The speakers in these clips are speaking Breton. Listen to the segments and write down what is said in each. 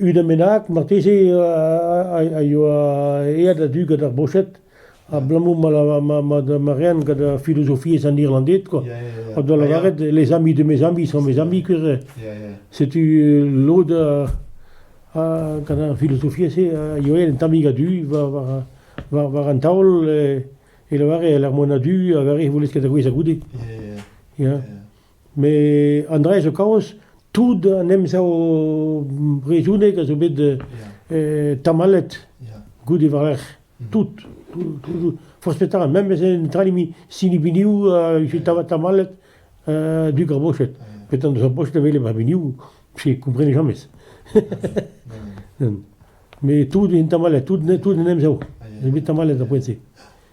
Unan bennak marteze a yoa aet a-du gant ar boched abalamour ma reent gant filozofiezh an Irlanded quoi. O doa lavaret les amis de mes amis sont mes amis kuze. Setu lod gant ar filozofiezh-se a yoa aet un tammig a-du war an taol e lavaret lec'h mont a-du a vare e voulez ket a gouezh a goude. Ya. Met an dra zo kaoz tout an emsav brezhonek a zo bet tamallet goude war-lerc'h. Tout, toujours. Forzh petra, memes en tralimi sinibiniou a vije tamallet du garbochet. Petan deus ar bochet a vele ba biniou, se komprene jamez. Mais tout est tamallet, tout tout en emsav. C'est tamallet après c'est.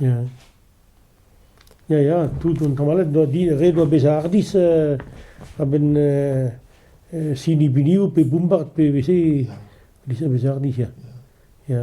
Ya, ya ya tout an tamallet doa din ret oa bezañ hardizh a-benn sinibilioù pe bombard pe veze a-bezh bezañ hardizh ya, ya.